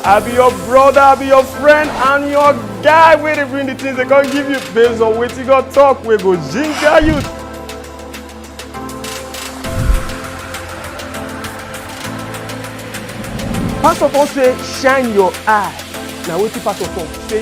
I be your brother, I be your friend, and your guy wey dey bring the things they come give you based on wetin God talk wey go ginger you. Pastor Paul say shine your eye. Na wetin pastor talk say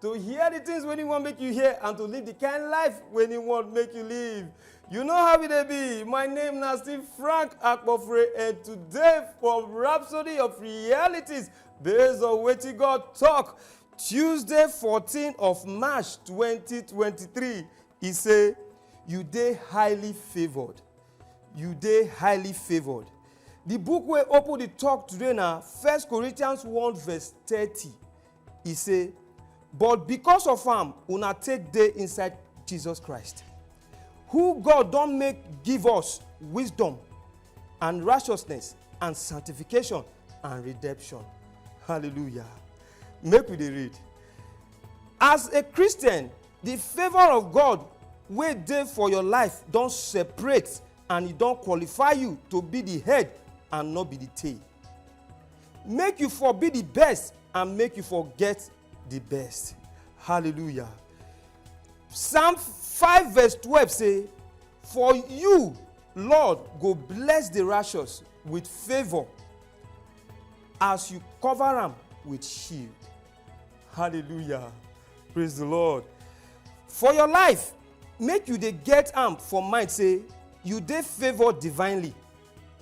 to hear the things wey him wan make you hear and to live the kind life wey him wan make you live you know how e dey be my name na still frank akpofre and today for rhapsody of realities based on wetin god talk tuesday 14 of march 2023 e say you dey highly favoured you dey highly favoured the book wey open the talk today na first corinthians 1 verse 30 E say, But because of am una take dey inside Jesus Christ, who God don make give us wisdom and righteousness and sanctification and redemption. Hallelujah. Make we dey read. As a Christian, the favor of God wey dey for your life don separate and e don qualify you to be the head and no be the tail. make you for be the best and make you for get the best hallelujah psalm five verse twelve say for you lord go bless the righteous with favour as you cover am with shield hallelujah praise the lord for your life make you dey get am for mind say you dey favoured divinely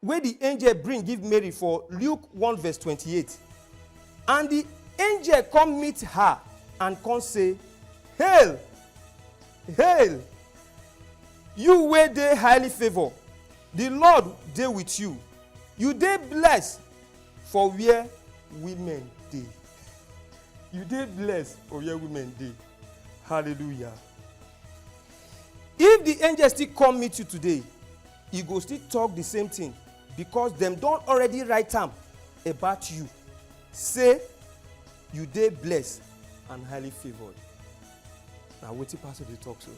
wey di angel bring give Mary for Luke one verse twenty eight, And di angel come meet her and come say, Hail! Hail! You wey dey highly favour, di Lord dey with you, you dey blessed for where women dey. You dey blessed for where women dey. Hallelujah! If di angel still come meet you today, You go still talk the same thing because dem don already write am about you say you dey blessed and highly favoured na wetin pastor dey talk so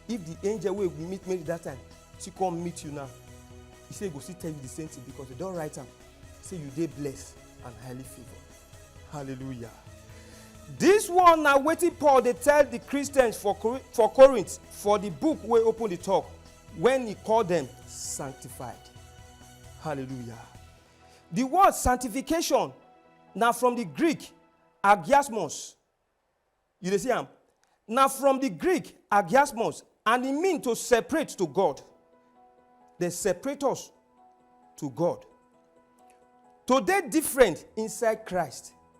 if the angel wey we meet mary that time still come meet you now he say he go still tell you the same thing because he don write am say you dey blessed and highly favoured hallelujah this one na wetin paul dey tell the christians for Cor- for corinth for the book wey open the talk When he call them sanctified. Hallelujah. The word sanctification na from the Greek agiasmos. You dey see am? Na from the Greek agiasmos and e mean to separate to God. Dem separate us to God. To dey different inside Christ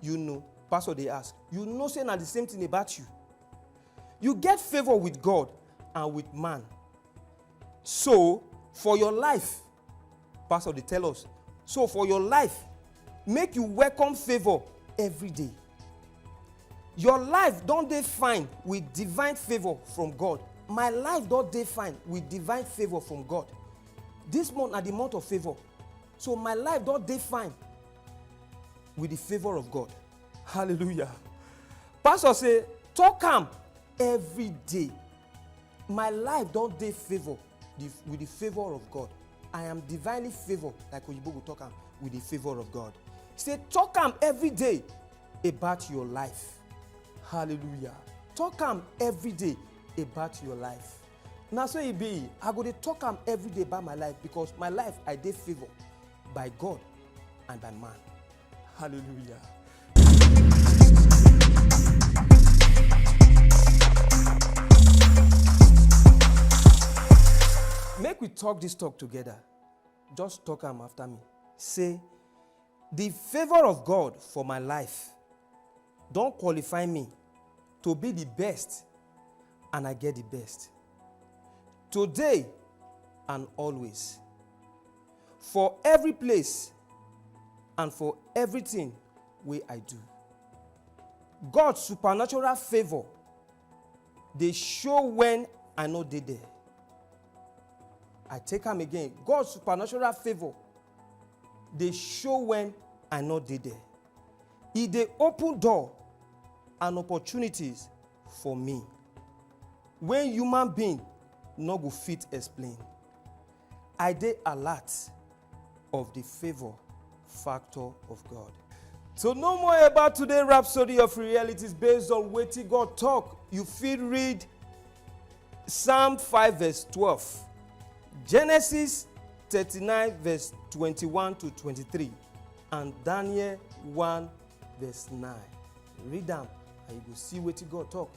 you know pastor dey ask you know say na the same thing about you you get favour with god and with man so for your life pastor dey tell us so for your life make you welcome favour every day your life don dey fine with divine favour from god my life don dey fine with divine favour from god this month na the month of favour So my life don't define with the favor of God. Hallelujah. Pastor say, talk am every day. My life don't dey favor with the favor of God. I am divinely favored, like Oyibo go talk am, with the favor of God. He say, talk am every day about your life. Hallelujah. Talk am every day about your life. na so e be i go dey talk am every day by my life because my life i dey favoured by god and by man hallelujah. make we talk this talk together just talk am after me say Di favour of God for my life don qualify me to be di best and I get di best, today and always, for every place and for everything wey I do. God supernatural favour dey show when i no dey there i take am again god supernatural favour dey show when i no dey there e dey open door and opportunities for me wey human being no go fit explain i dey alert of the favor factor of God. So no more about today rhapsody of realities based on wetin God talk. You fit read Psalm 5 verse 12, Genesis 39 verse 21 to 23, and Daniel 1 verse 9. Read them and you go see wetin God talk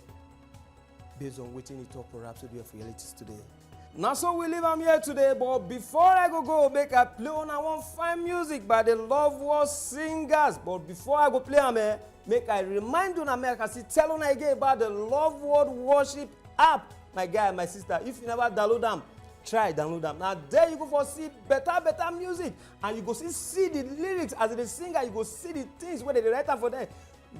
based on wetin he talk for rhapsody of realities today. na so we leave am here today but before i go go make i play una one fine music by the love war singers but before i go play am eh make i remind una make i still tell una again about the love world worship app my guy and my sister if you never download am try download am na there you go for see better better music and you go see see the lyrics as e dey sing and you go see the things wey dey write am for there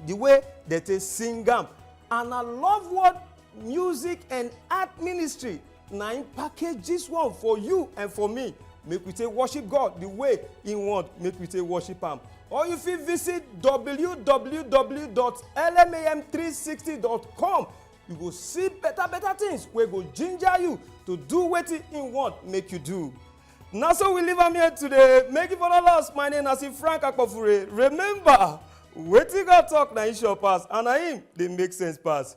the way dem take sing am and na love world music and art ministry na im package this one for you and for me make we take worship god the way he want make we take worship am or you fit visit www.lmam360.com you go see better better things wey go ginger you to do wetin he want make you do na so we leave am here today make you follow us my name na frank akpofure remember wetin god talk na him sure pass and na him dey make sense pass